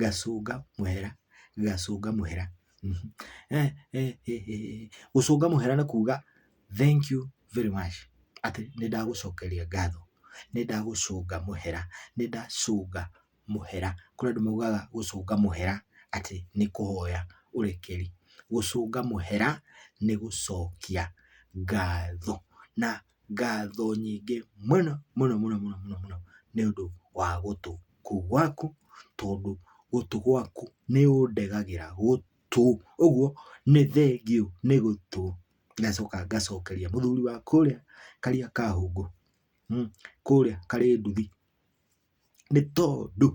Gacũnga mũhera, gacũnga mũhera, gũcũnga mũhera nĩ kuga thank you very much atĩ nĩ ndagũcokeria ngatho, nĩ ndagũcũnga mũhera, nĩ ndacũnga mũhera. Kũrĩ andũ maugaga gũcũnga mũhera atĩ nĩ kũhoya ũrekeri. Gũcũnga mũhera nĩ gũcokia ngatho na Ngatho nyingĩ mũno mũno mũno mũno mũno mũno nĩ ũndũ wa gũtũ kũu gwaku, tondũ gũtũ gwaku nĩ ũndegagĩra gũtũ. Ũguo nĩ thengiũ nĩ gũtũ. Ngacoka ngacokeria mũthuri wa kũrĩa Kariakahũngũ, kũrĩa Karĩnduthi. nĩ tondũ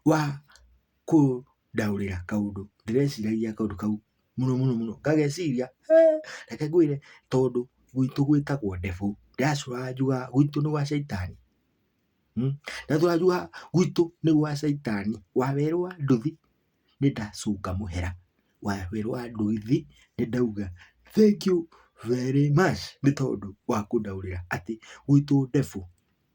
wa kũndaũrĩra kaũndũ ndĩreciragia kaũndũ kau mũno mũno mũno ngageciria hee reke ngwĩre tondũ gwitũ gwĩtagwo ndefu ndĩracũraga njugaga gwitũ nĩ gwa caitani ndacũraga njugaga gwitũ nĩ gwa caitani wawerũa nduthi nĩ ndacũnga mũhera wawerũa nduthi nĩ ndauga thengiũ very much nĩ tondũ wa kũndaũrĩra atĩ gwitũ ndefu.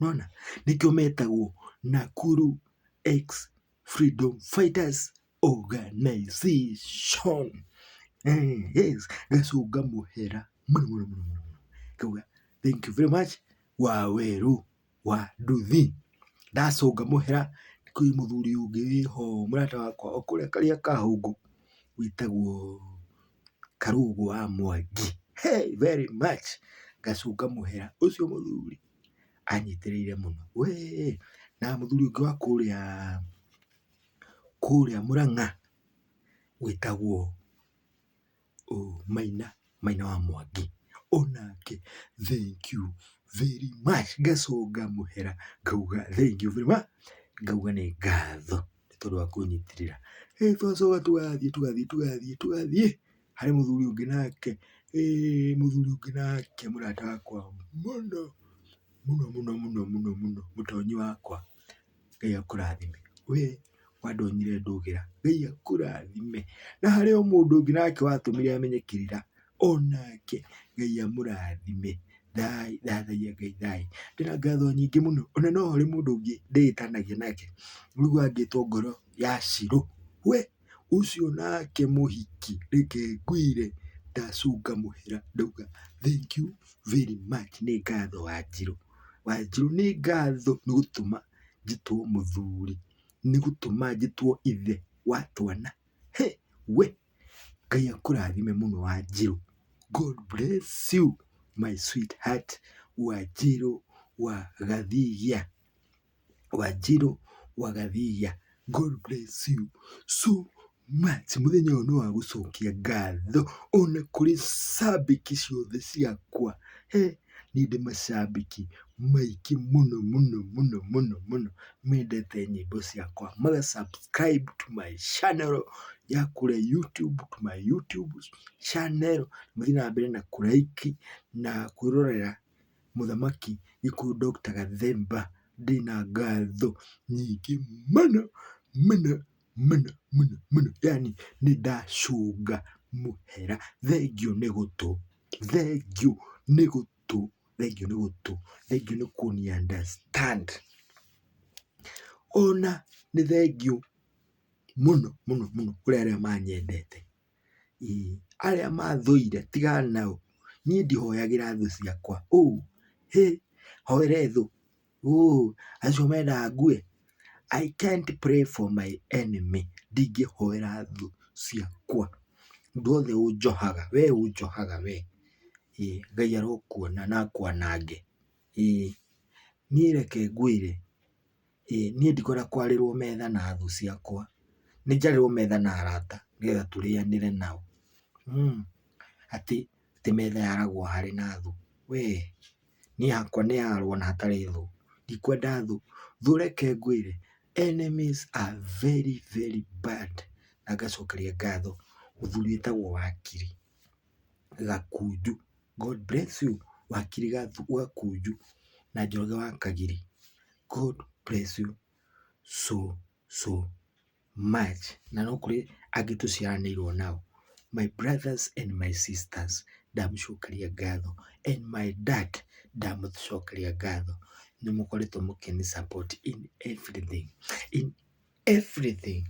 Nĩwona? Nĩkĩo metagwo Nakuru ex-freedom fighters organization. Yes, gacũnga mũhera mũno mũno mũno mũno mũno. Ngauga thank you very much Wawerũ wa nduthi. Ndacũnga mũhera kwĩ mũthuri ũngĩ wĩho mũrata wakwa o kũrĩa karĩa ka hũngũ wĩtagwo Karũgũ wa Mwangi. Hĩ! Very much, ngacũnga mũhera ũcio mũthuri. anyitĩrĩire mũno wee, na mũthuri ũngĩ wa kũrĩa kũrĩa Mũrang'a wĩtagwo Maina, Maina wa Mwangi, onake thank you very much ngacoka ngamũhera ngauga thank you very much ngauga nĩ ngatho nĩ tondũ wa kũnyitĩrĩra. Ĩ twacoka tũgathiĩ tũgathiĩ tũgathiĩ tũgathiĩ. Harĩ mũthuri ũngĩ nake, ĩĩ mũthuri ũngĩ nake mũrata wakwa mũno, mũno mũno mũno mũno mũno, mũtonyi wakwa, Ngai akũrathime. We wandonyire ndũgĩra, Ngai akũrathime. Na harĩ o mũndũ ũngĩ nake watũmire menye kĩrĩra, onake Ngai amũrathime. Thai, thathaia Ngai thayũ. Ndĩna ngatho nyingĩ mũno, ona no harĩ mũndũ ũngĩ ndĩĩtanagia nake, ũigua angĩtwo ngoro ya Shilo, we. Ũcio nake mũhiki reke ngwĩre ndacũnga mũhera ndauga thank you very much nĩ ngatho wanjirũ. Wanjirũ nĩ ngatho nĩ gũtũma njĩtwo mũthuri nĩ gũtũma njĩtwo ithe wa twana. Hĩ we Ngai akũrathime mũno wanjirũ. God bless you my sweetheart wanjirũ wa gathigia. Wanjirũ wa Gathiia God bless you so much. Mũthenya ũyũ nĩ wa gũcokia ngatho ona kũrĩ cambĩki ciothe ciakwa. He, niĩ ndĩ macambĩki maingĩ mũno mũno mũno mũno mũno mendete nyĩmbo ciakwa. Maga subscribe to my channel ya kũrĩa YouTube, to my YouTube channel. Mũthiĩ na mbere na kũ like na kwĩrorera. Mũthamaki gĩkũyũ Doctor Gathemba ndĩ na ngatho nyingĩ mũno mũno mũno mũno mũno yaani nĩ ndacũnga mũhera. Thengiũ nĩ gũtũ, thengiũ nĩ gũtũ, thengiũ nĩ gũtũ, thengiũ nĩ kũni understand. Ona nĩ thengiũ mũno mũno mũno kũrĩ arĩa manyendete. Arĩa mathũire tigana nao, niĩ ndihoyagĩra thũ ciakwa. Hĩ! Hoere thũ? Acio mendaga ngue? I can't pray for my enemy ndingĩhoera thũ ciakwa. Mũndũ wothe ũnjohaga, we ũnjohaga we, Ngai arokuona na akwanange. Ĩĩ, niĩ reke ngwĩre. Ĩĩ niĩ ndikwenda kwarĩrwo metha na thũ ciakwa, nĩ njarĩrwo metha na arata nĩgetha tũrĩanĩre nao. Atĩ metha yaragwo harĩ na thũ we, niĩ hakwa nĩ hararwo na hatarĩ thũ, ndikwenda thũ. Thũ reke ngwĩre enemies are very very bad na ngacokeria ngatho mũthuri wĩtagwo wakiri. Gakunju. God bless you wakiri Gakunju na Njoroge wa Kagiri. God bless you so so much. Na no kũrĩ angĩ tũciaranĩirwo nao. My brothers and my sisters ndamũcokeria ngatho and my dad ndamũcokeria ngatho nĩ mũkoretwo mũkĩnĩ support in everything in everything.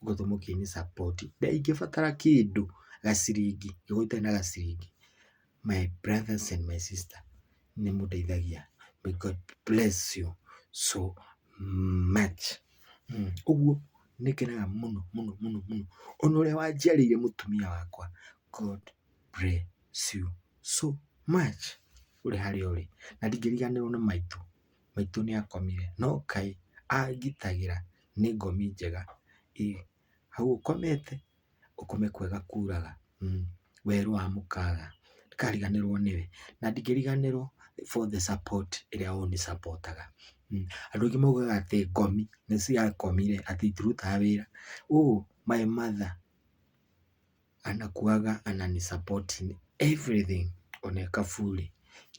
gũthiĩ mũkĩnĩ support na ingĩbatara kĩndũ gaciringi angĩkorwo itarĩ na gaciringi my brothers and my sister nĩ mũndeithagia may God bless you so much ũguo nĩ ngenaga mũno mũno mũno mũno ona ũrĩa wanjiarĩire mũtumia wakwa God bless you so much ũrĩ harĩa ũrĩ na ndingĩriganĩrwo nĩ maitũ maitũ nĩ akomire, no Ngai angitagĩra nĩ ngomi njega, ĩ, hau ũkomete, ũkome kwega kuraga, werũ wa mũkaga, ndikariganĩrwo nĩwe, na ndingĩriganĩrwo for the support ĩrĩa ũnĩ support aga, andũ aingĩ maugaga atĩ ngomi nĩ ciakomire atĩ itirutaga wĩra, ũ my mother. anakuaga anani support in everything on a kafuli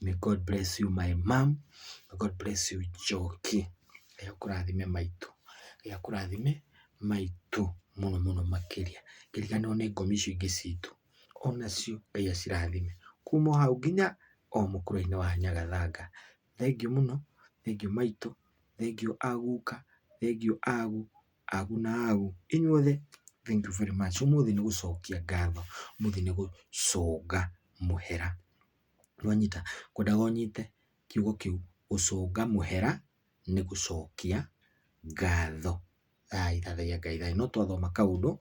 may god bless you my mom may god bless you joki ngai akũrathime maitũ ngai akũrathime maitũ mũno mũno makĩria ngĩriganĩrwo nĩ ngomi icio ingĩ citũ onacio ngai acirathime kuma o hau nginya o mũkũrũ-inĩ wa nyagathanga thengiũ mũno thengiũ maitũ thengiũ a guka thengiũ a gu Agu na agu, inyuothe, thank you very much. Ũmũthĩ nĩ gũcokia ngatho, ũmũthĩ nĩ gũcũnga mũhera. Nĩ wanyita? Ngwendaga ũnyite kiugo kĩu, gũcũnga mũhera nĩ gũcokia ngatho. Thayũ, thathaiya Ngai thayũ. No twathoma kaũndũ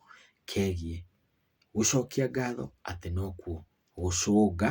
kegiĩ gũcokia ngatho atĩ nokuo gũcũnga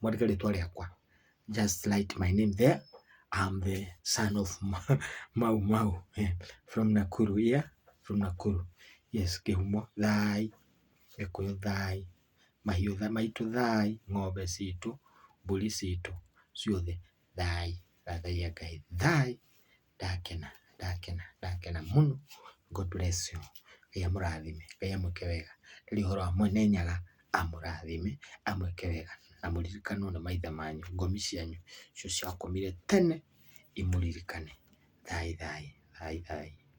mwandĩke rĩtwa rĩakwa just write my name there I'm the son of Ma- Mau Mau eh, from Nakuru yeah from Nakuru yes kĩhumo thai gĩkũyũ thai mahiũ tha- maitũ thai ng'ombe citũ mbũri citũ ciothe thai thathaiya Ngai thai ndakena, ndakena, ndakena mũno. God bless you. Ngai amũrathime, Ngai amwĩke wega. Ndarĩ ũhoro wa Mwene Nyaga, amũrathime, amwĩke wega, na mũririkanwo nĩ maithe manyu, ngomi cianyu icio ciakomire tene imũririkane. Thaai thaai, thaai thaai.